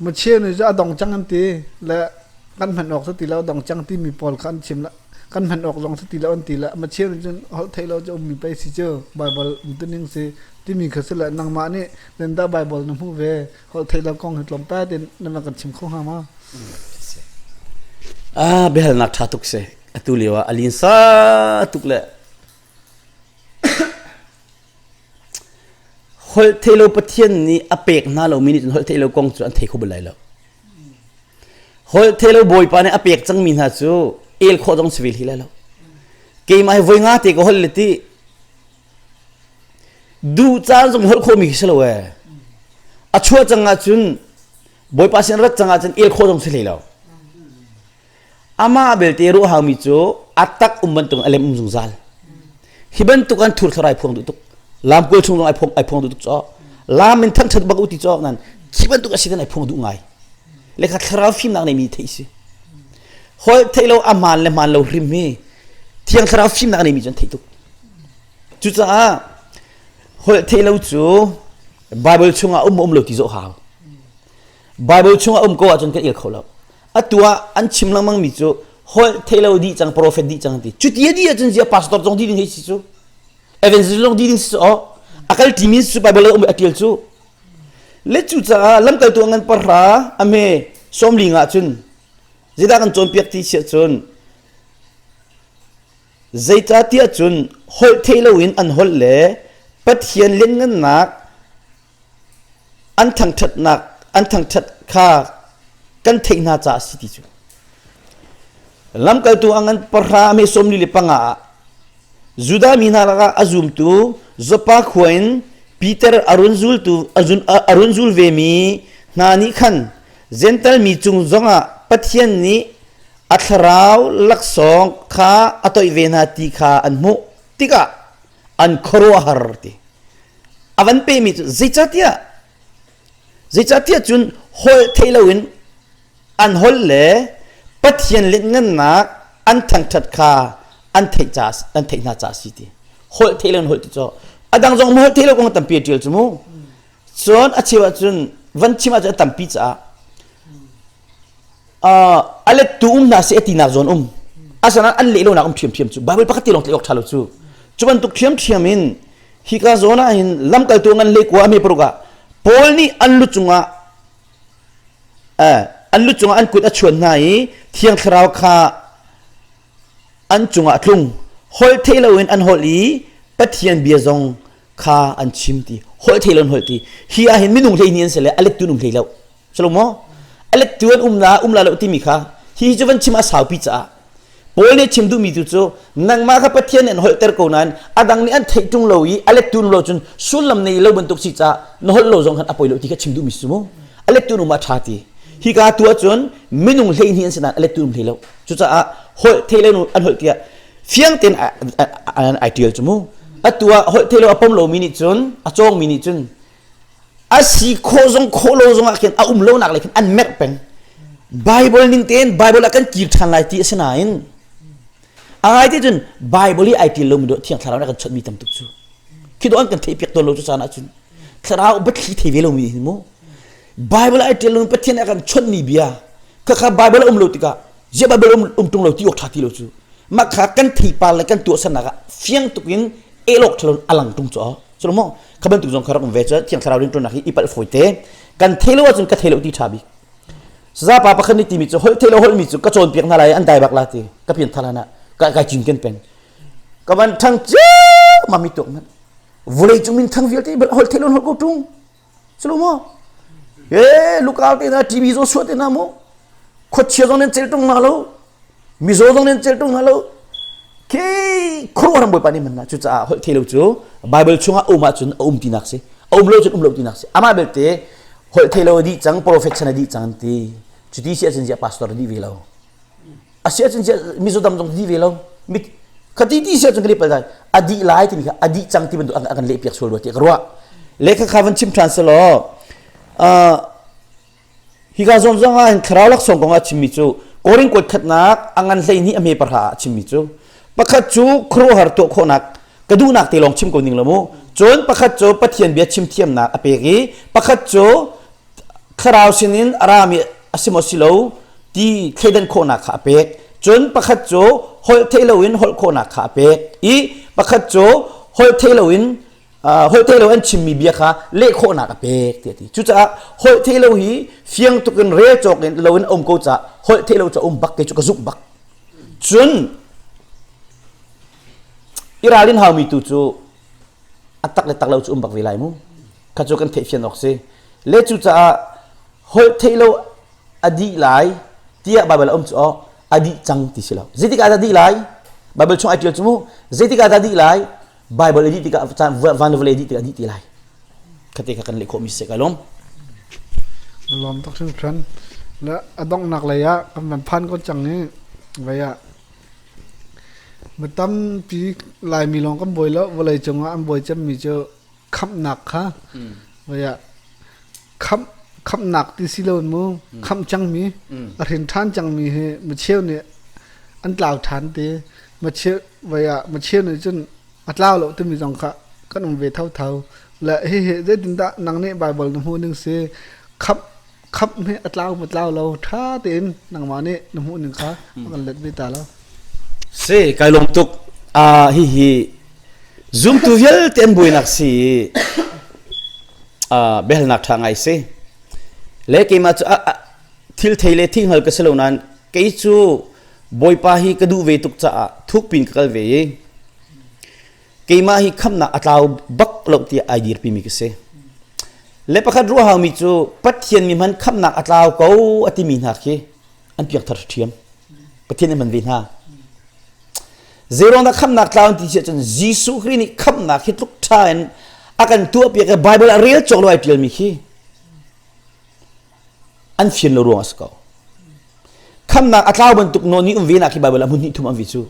Muchia nu cu a dong cang an ti le kan hman awk ti lo dong cang timi pawl kha an chim le kan hman awk zong ti lo an ti le machia nu cun holh thei lo cu ummi pei si cu Baibal umtuning si timi kha si le nangmah nih dah Baibal na hmuh ve holh thei lo kong hi tlawmpe tein na kan chim kho hnga ma a biahalnak ṭha tuk si atu lio ah a linsa tuk le Holhtheihlo Pathian nih a pek hna lomi nih cun holhtheihlo kong cu an thei kho bal lai lo. Holhtheihlo Bawipa nih a pek cangmi hna cu el khawh zong si ve li lai lo. Keimah hi voi nga te ka holh le ti duh caan zong holh khawhmi khi si lo ee. A chuah cang ah cun Bawipa sin rat cang ah cun el khawh zong si hlei lo. Amah belte ruahangmi cu a tak um bantukin a lem um zungzal. Hi bantuk an thur thlorai phuang duh tuk. Lam kual chung ai phuang ai phuang duh tuk caw. Lam min thang than bak uti caw nan chi bantuk a si kan ai phuang duh ngai. Le kha thlarau fimnak nei mi theih si. Hol theih lo a hmaan le hmaan lo hrim hi thiang thlarau fimnak nei mi cu an theih tuk. Cucaah holh theih lo cu Bible chungah um um lo ti zoh hau. Bible chung a um ko ahcun kan il kho lo. Atu ah an chim lengmang mi cu holh theilo dih cang prophet dih cang ti. Cuti a dih ahcun zia pastor zong dih ding hei si cu. Evangelist zong dih ding si oh. Akal ti min su Bible um atil cu. Le cu caah lamkal tu ngan parra ame somli nga cun zida kan cawn piak ti sia cun Zeicahtiah cun holh thei loin an holh le Pathian lianngannak an thangṭhatnak an thangṭhat kha kan theih hna caah a si ti cu. Lamkaltu ang an pahra me sawmli le panga ah Judah mi hna lakah a zumtu Zoppa khua in Peter a run zultu a run zul vemi hna nih khan Gental mi cung zongah Pathian nih A thlarau laksawng kha a toih ve hna ti kha an hmuh tikah an khuaruahhar ti. A van pemi cu zeicahtiah zeicahtiah cun holh thei loin an holh le Pathian lianhngannak an thangṭhat kha an theih ca an theih hna ca a si ti. Holh thei loin holh ti cu a dang zong holh thei lo kong tampi a ṭial cu mu. Cun a cheu ah cun van chim ahcun a tampi caah a lettu um hna seh tinak zawn um asanain an leh lonak um ṭhiamṭhiam cu Baibal pakhat tilawng tlaih awk ṭha lo cu cu bantuk ṭhiamṭhiam in hika zawn ah hin lamkaltu ngan le kua a me paruk ah Paul nih an lu cungah an lu cungah an kut a chuan hna i thiang thlarau kha an cungah tlung holh thei loin an holh i Pathian bia zong kha an chim ti holh thei lo an holh ti hi ah hin minung hlei ni an si le a lettu an um hlei lo salomo a lettu an um la um la lo timi kha hi cu van chim a saupi caah Paul nih chim duhmi tu cu nangmah kha Pathian nih an holhter ko nain a dang nih an theih tung lo i a lettu lo cun sullam nei lo bantuk si caah na holh lo zong khan a poi lo ti kha chim duhmi si mu a lettu um a ṭha ti hi ka tu ahcun minung hlei ni an si nain a lettu um hlei lo Cucaah holh thei le an holh tiah fiang tein ai ṭial cu mu. Atu ah holh thei lo a pom lomi nih cun a cawngmi nih cun a si khawh zong khawh lo zong ah khin a um lonak lei khin an merh peng. Bible ning tein Bible ah kan kir ṭhan lai ti a si nain a ngai te cun Bible i ai ṭial lomi dawh thiang thlarau nih a kan chawnhmi tam tuk cu. Khi dawh an kan theihpiak tawn lo cu caan ahcun thlarau batthli thei ve lomi hi mu. Bible ai ṭial loin Pathian a kan chawnhmi bia khakha Bible a um lo tikah ziah Bible um, um ṭung lo ti awk ṭha ti lo cu mah kha kan theipar le kan tuahsannak ah fiang tukin elawk ṭhalo a lang ṭung cu cu mu kha bantuk zong kha rak um ve cu thiang thlarau rinṭuannak hi ipal fawi te kan theilo ahcun ka theilo ti ṭha bik sazapa pakhat nih timi cu holh theilo holhmi cu ka cawnpiak hna lai an dai bak la ti ka pian tha lan ah ka kai cin ken pen ka van thang cia mami tok man vulei cung min thang vialte holh theilo holh ko ṭung Culu mu. E lukau te na TV zo suat te na mu. Khochia zong nen cel tung na lo. Mizo zong nen cel tung na lo. Khi khurwa ram boi pani man na cu caah holh thelo cu Bible chungah um ah cun um tinak si. Um lo cun um lo tinak si. Amah belte holh thelo a dih cang prophet sana dih cang ti. Cuti si ahcun ziah pastor a dih ve lo. asi ahcun mizaw dam zong ni ve lo khati ti si ahcun kan i pal dai adi lai timi kha adi cang ti bantuk an kan leh piak sual rua ti ka ruah lekha kha van chim than se law hi ka zon zong ah thlarau lak song kong ah chimmi cu koring kot khatnak angan hlei ni ame parha ah chimmi cu pakhat cu khuruhar to khawnak ka duhnak te lawng chim ko ning lo mu cun pakhat cu pathian bia chim thiamnak a pek i pakhat cu thlarau sinin a rami a si maw si lo ti thleidan khawhnak kha a pek cun pakhat cu holh thei loin holh khawhnak kha a pek i pakhat cu holh thei loin holh thei loin chimmi bia kha leh khawhnak a pek ti a ti cucaah holh thei lo hi fiang tuk in re cawk in loin a um ko caah holh thei lo cu um bak ke cu ka zuk bak cun i ralin haumi tu cu a tak le tak lo cu um bak ve lai mu kha cu kan theihfian awk si le cucaah holh theih lo a dih lai tiah Baibal a um cu awk a dih cang ti si lo zeitik ah dah dih lai Baibal chung ai ṭial cu mu zeitik ah dah dih lai Baibal i dih tikah caan van le vawlei dih tikah dih ti lai khate kha kan leh khawhmi si ka lum lom tak sin than la adong nak lei ah kan van phan ko chang ni vai ah matam pi lai mi long kan boi lo vawlei cung ah an boi chem mi chu khamhnak kha voiah khamh khamhnak ti si lo mu khamh cangmi a hrin ṭhan cangmi hi macheu nih an tlau ṭhan te macheu voiah macheu nih cun a tlau lo timi zong kha kan um ve thotho le hihi zeitindah nang nih Baibal na hmuh ning si khamh Khap hme a tlau mu tlau lo ṭha tein nangmah nih na hmuhning kha a kan let ve ta lo. Si, kai lawm tuk. Uh, hihi zumtu vialte an buainak si i uh, biahalnak ṭha ngai si. Le keimah cu a, a, thil thei le thinghngal ka si lo nain kei cu Bawipa hi ka duh ve tuk caah thukpin ka kal ve i keimah hi khamnak a tlau bak lo tiah ai dirpimi ka si le pakhat ruah haumi cu pathian mi hman khamnak a tlau ko a timi hna khi an piak thar ṭhiam pathian an man ve hna zeirong dah khamnak tlau ti si cun jesuh kri nih khamnak hi tluk ṭha in a kan tuah piak i bible a rel cawk lo ai ṭialmi khi an fir lo ruang a si ko. Khamnak a tlau bantuk nawl ni um ve nak hi Baibal a hmun hnih thum an vi cu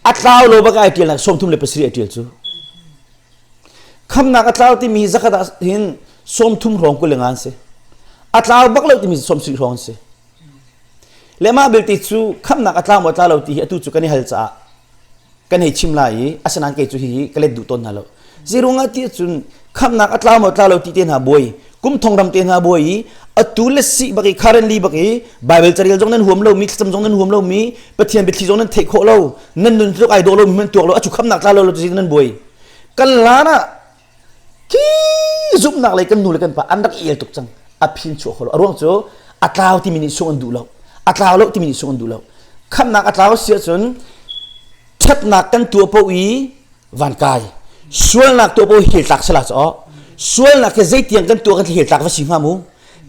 a tlau lo bak ai tial nak sawmthum le pasarih ai tial cu khamnak a tlau timi zakat ah hin sawmthum hrawng kul le ngan si a tlau bak lo timi sawmsarih hrawng si le mah belte cu khamnak a tlau maw tlau lo ti hi atu cu kan i hal caah kan hei chim lai i asinain kei cu hihi ka let duh tawn hna lo zeiro ngah ti ahcun khamnak a tlau maw tlau lo ti te hna buai kum thong ram te hna buai i atu le si bak i currently bak i bible carel zong nan huam lo mi thlacam zong nan huam lo mi pathian biathli zong nan theih khawh lo nan nun tluk ai dawh lo mi man tuak lo acu khamnak tla lo lo tu nan buai kan lan ah Khi zumhnak lei kan nu le kan pa an rak i el tuk cang. A phin chuah kholo. A ruang cu a tlau timi nih sung an duh lo. A tlau lo timi nih sung an duh lo. Khamnak a tlau si ahcun ṭhatnak kan tuah paoh i van kai. Sualnak tuah paoh hi tlak sala caw. Sualnak hi zeitiang kan tuah kan thil tlak va si hnga mu.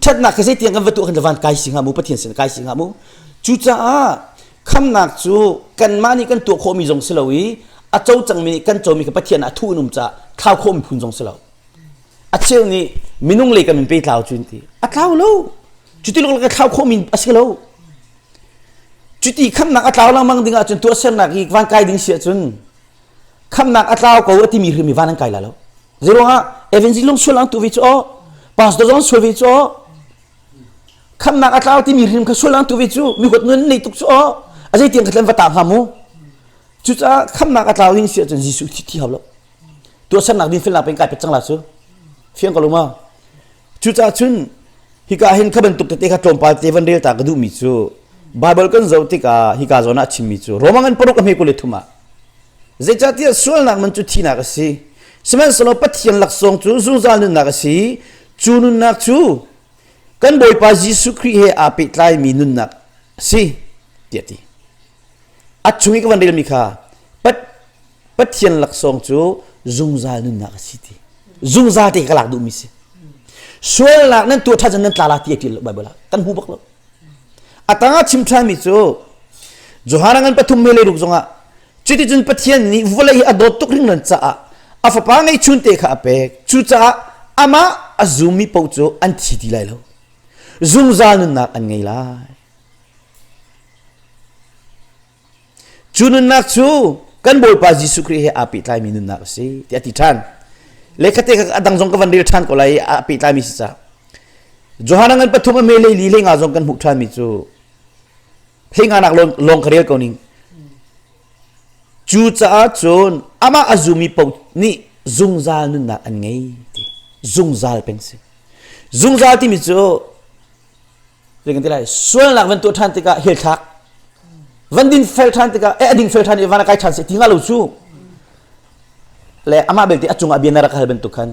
Ṭhatnak hi zeitiang kan va tuah kan van kai si hnga mu. Pathian sin kai si hnga mu. Cucaah khamnak cu kanmah nih kan tuah khawhmi zong si lo i a co cangmi nih kan comi kha Pathian ah a thuh in um caah thlau khawh miphun zong si lo a cheu nih minung lei kan in pe tlau cu in ti a tlau lo cuti lawng ka thlau khawhmi a si lo cuti khamnak a tlau lengmang ding ahcun tuah sernak hi van kai ding si ahcun khamnak a tlau ko a timi hrim hi van an kai la lo zeiruangah evangelist lung sual ang tu vi cu aw pastor zong sual vi cu aw Khamnak a tlau timi hrim kha sualnak tu ve cu mihuat nun nei tuk cu aw a zeitiang khat len va ta hnga mu cucaah khamnak a tlau ning si ahcun Jesuh thi thi hau lo tuahsernak din felnak peng kai pet cang la cu fiang ko lo ma cucaah cun hika hin kha bantuk tete kha tlawmpal te van rel ta ka duhmi cu Bible kan zoh tikah hika zawn ah a chimmi cu Roma ngan paruk a hme kule thum ah zeicahtiah sualnak man cu thihnak a si sihmanhsehlaw Pathian laksawng cu zungzal nunnak a si Cu nunnak cu kan Bawipa Jesuh Khrih he aa pehtlaimi nunnak a si tiah ti. A chung i ka van relmi kha Pathian laksawng cu zungzal nunnak a si ti. Zungzal te ka lak duhmi si. Sualnak nan tuah ṭhan nan tlala ti ṭil Baibal ah kan hmu bak lo. A tangah chim ṭhanmi cu Johan an pathum he leiruk zongah Cuticun Pathian nih vawlei hi a dawt tuk ringran caah a fapa ngeihchun te kha a pek. Cucaah amah a zummi paoh cu an thi ti lai lo. Zungzal nunnak an ngei lai. Cu nunnak cu kan Bawipa Jesuh Khrih he aa pehtlaimi nunnak a si ti a ti ṭhan. Lekhate kha a dang zong ka van rel ṭhan ko lai i a pehtlaimi si ca. Johan an ngan pathum a me leili le nga zong kan hmuh ṭhanmi cu phenganak lawng ka rel ko ning cu caah cun amah a zumi po nih zungzal nunnak an ngei ti zungzal peng si zungzal timi cu zekan ti lai sualnak van tuah ṭhan tikah hel thak van din fel ṭhan tikah e ading fel ṭhan i van a kai ṭhan se ti nga lo cu le amah belte a cungah bia na rak hal bantuk khan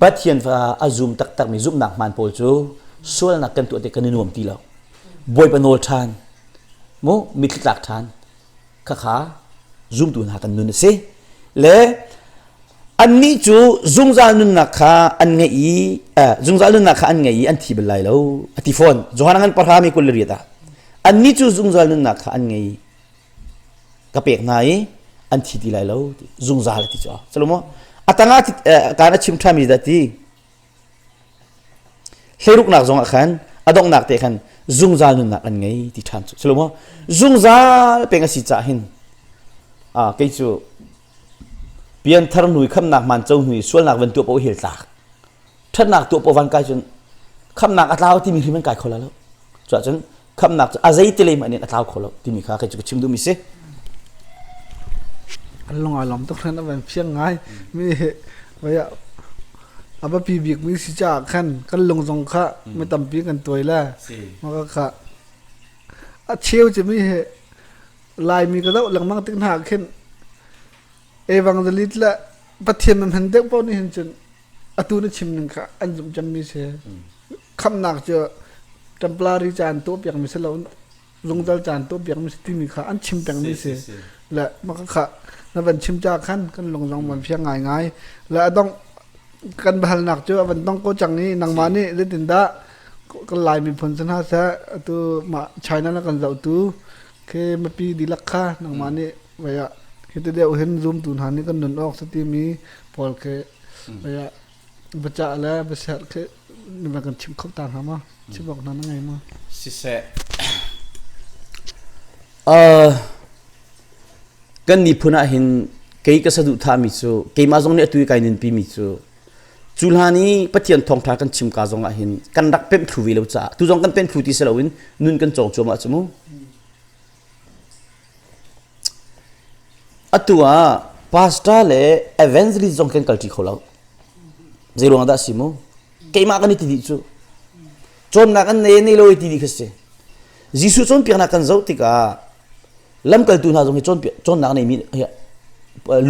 pathian fa a zum taktakmi zumhnak hmaan pawl cu sualnak kan tuah ti kan i nuam ti lo bawipa nawl ṭhan mu mitthli tlak ṭhan khakha zumtu hna kan nun a si le annih cu zungzal nunnak kha an ngeih i zungzal nunnak kha an ngei i an thi bal lai lo a ti fawn johan an parhami kul le riat ah annih cu zungzal nunnak kha an ngei ka pek hna i an thi ti lai lo zungzal ti cu salomo atanga kaan a chim ṭhami da ti Hleiruknak zongah khan a donghnak te khan zungzal nunnak an ngei ti ṭhan cu. Culo maw zungzal peng a si caah hin a kei cu pianthar nui khamnak manco nui sualnak van tuah paoh hel tlak ṭhatnak tuah paoh van kai cun khamnak a tlau timi hrim an kai kho la lo. Cuahcun khamnak cu a zeitilei mah nih a tlau kho lo timi kha kai cu ka chim duhmi si an lung a lom tuk ran avan phiang ngai mi vaya aba pi bik mi si cha khan kan lung zong kha mi tampi kan tuai la ma ka kha a cheu che mi he lai mi ka dau langmang tik hna khin evangelist la pathian man han deuh pau ni hin chun atu na chim ning kha an zumh cemmi si. Khamnak cu temporary caan tuahpiakmi si lo, zungzal caan tuahpiakmi si timi kha an chim pengmi si. Le maka kha na van chim ca khan kan lung zong van fiang ngaingai. Le a dongh kan bahalnak cu a van dong ko cang i nangmah nih zeitindah kan Lai miphun si hna seh atu mah China na kan zohtu khi mipi dihlak kha nangmah nih Vei ah hiti deuh hin zumtu hna nih kan nun awk si timi pawl khi vei ah biacah le biasiat khi na kan chimh kho ta hnga ma? Chim awk hna na ngei ma? Siseh, uh, kan ni phun ah hin kei ka saduhthahmi cu keimah zong nih atu i kai ninpi mi cu cu hlan i Pathian thawngtha kan chim ka zong ah hin kan rak pemh thlu ve lo caah tu zong kan pemh thlu ti si loin nun kan cawng cuam ah cu mu. Atu ah pastor le evangelist zong kan kalṭi kho lo. Zeiruangah dah a si mu? Keimah kan i ti dih cu. Cawnnak an nei nei lo i ti dih kha si. Jesuh cawnpiaknak kan zoh tikah lamkaltu hna zong hi cawnpiak cawnnak neimi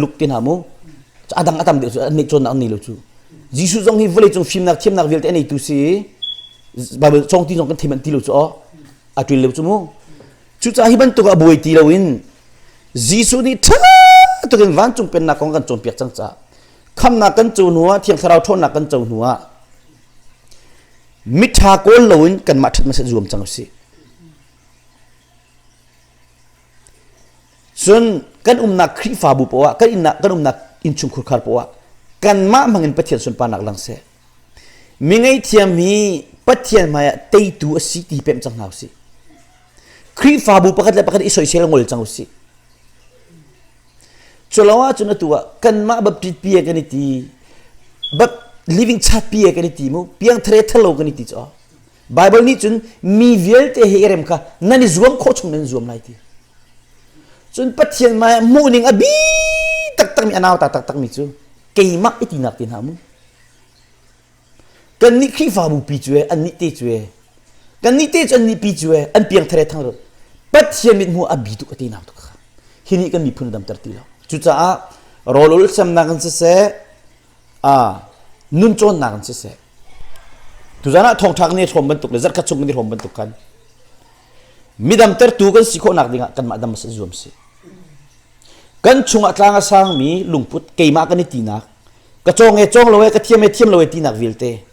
luk te hna mu. A dang a tam deuh cu an cawnnak an nei lo cu. Jesuh zong hi vawleicung fimnak thiamnak vialte a neitu si i Baibal sawngti zong kan thim an ti lo cu aw. a ṭil leu cu mu cucaah hi bantuk a buai ti loin Jesuh nih ṭha tukin vancung pennak kong kan cawnpiak cang caah khamnak kan co hnu ah thiang thlarau ṭhawnnak kan co hnu ah miṭha kawl loin kanmah ṭhat masih zuam cang usih cun kan umnak Khrihfabu poah kan innak kan umnak innchungkhur khar poah kanmah hmangin Pathian sunparnak lang seh Mi ngeihthiam hi Pathian hmaiah teitu a si ti pemh cang hna usih. Khrihfabu pakhat le pakhat i soisel ngol cang usih. Culo ah cun atu ah kanmah baptist pi kan i ti but living chart pi kan i ti mu piang thare thalo kan i ti cho Bible nih cun mi vialte he i rem kha nan i zuam khawh chung nan zuam lai ti Cun Pathian hmai ah hmuhning a bi taktakmi a nauta taktakmi cu keimah i tinak te hna mu. Kannih Khrihfabu pi cu e, annih te cu e, kannih te cu annih pi cu e, an piangthare thang rut. Pathian mit hmuh a bi tuk a ti nak tuk kha. Hi nih kan miphun a damter ti lo. Cucaah rawl ul siamnak in siseh, a nun cawnnak in siseh, tuzan ah thawngṭha kan i hrawm bantuk le zarhkhat chung kan i hrawm bantuk khan Midam tertu kan si khawhnak dingah kanmah dam a zuam si. Kan chungah tlang a sangmi lungput keimah kan i tinak ka cawng e cawng lo e ka thiam e thiam lo e tinak vialte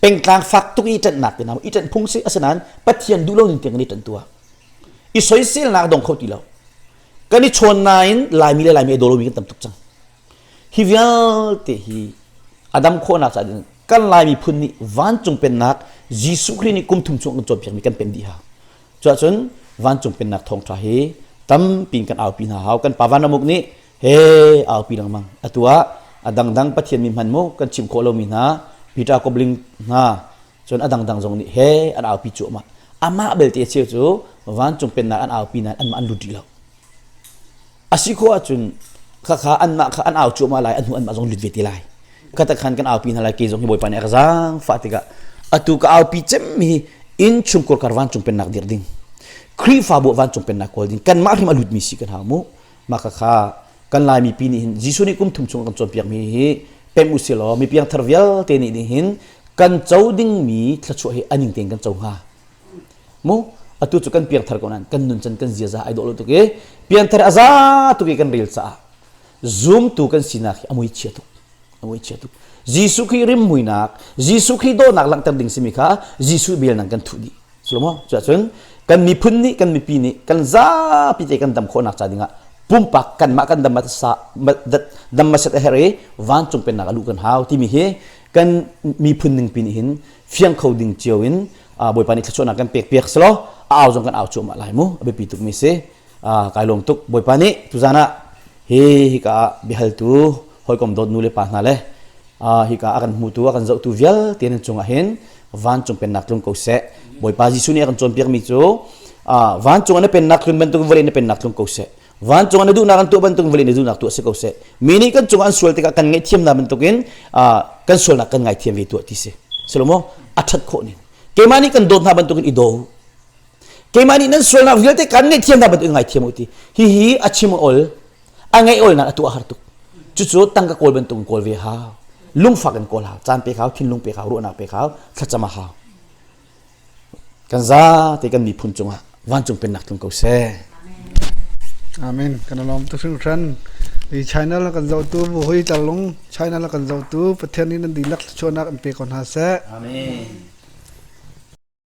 pengtlang fak tuk i ṭanhnak ke naam i ṭan phung si asinain Pathian duh lo ning tiang kan i ṭan tua i soiselnak dong kho ti lo kan i chawn nain laimi le laimi i dawlomi kan tam tuk cang Hi vialte hi a dam khawhnak caah cun kan Lai miphun nih vancung pennak Jesuh Khrih nih kum thum chung an cawnpiakmi kan pen dih hna. Cuahcun vancung pennak thawngṭha hi tampi in kan aupi hna hau. Kan Pa Vanramuk nih he aupi lengmang. Atu ah a dangdang Pathian mi hman mu kan chim khawh lomi hna Peter Kobling hna cun a dangdang zong nih he an aupi cuahmah. Amah belte a cheu cu vancung pennak an aupi nain anmah an lut rih lo. A si khawh ahcun khakha anmah kha an au cuahmah lai, an hnu anmah zong lut ve te lai. Katakhan kan aupi hna lai, kei zong hi Bawipa nih a ka zaang fah tikah atu ka aupi cemmi hi inn chung kawrkar vancung pennak dirh ding Khrihfabu vancung pennak kawl ding kanmah hrim a lutmi si kan hau mu mah khakha kan Laimi pi nih hin Jesuh nih kum thum chung kan cawnpiakmi hi pem u si law mi piangthar vialte nih hin kan co dingmi thluachuah hi a ning tein kan co hnga mu atu cu kan piangthar ko nan kan nun chan kan ziaza ai dawh lo tuk i piangthar a za tuk i kan rel caah zumtu kan sinak hi a mui chia tuk a mui chia tuk Jesuh khi rim muinak Jesuh khi dawnak langhter ding simi kha Jesuh bel nang kan thuh di Salomo cuahcun kan miphun nih kan mipi nih kan zapi te kan dam khawhnak ca dingah pumpak kanmah kan dam dam masat a her i vancung pennak a luh kan hau timi hi kan miphun ningpi nih hin fiang kho ding cio in bawipa nih thluachuahnak kan pek piak selaw a au zong kan au cuahmah lai mu a biapi tuk mi si kai lawm tuk bawipa nih tuzan ah hi hika ah biahaltu hawikom dawt nu le pa hna le hika a kan hmutu a kan zohtu vialte nan cungah hin vancung pennak tlung ko seh bawipa jesuh nih a kan cawnpiak mi cu vancung na pennak tlun bantuk vawlei na pennak tlung ko seh vancung ah na duhnak an tuah bantuk vale na duhnak tu a si ko seh mi nih kan cungah an sual tikah kan ngaihthiamnak bantukin kan sualnak kan ngaithiam ve tuah ti si salomaw a ṭhat khawh ning keimah nih kan dawt hna bantukin i daw keimah nih nan sualnak vialte kan ngaihthiam hna bantukin ngaithiam u ti hihi a chim ol a ngaih olnak a tuah har tuk cucu tangka kawl bantukin kawl ve hau lungfak in kawl hau caan pe hau thinlung pe hau ruahnak pe hau thlacam a hau Kan za te kan miphun cungah vancung pennak tlung ko seh. Amen. Kan lawm tu hringhran. Hi China la kan zohtu bu hoi tarlung China la kan zohtu Pathian nih nan dihlak thluachuahnak an pe ko hna seh. Amen.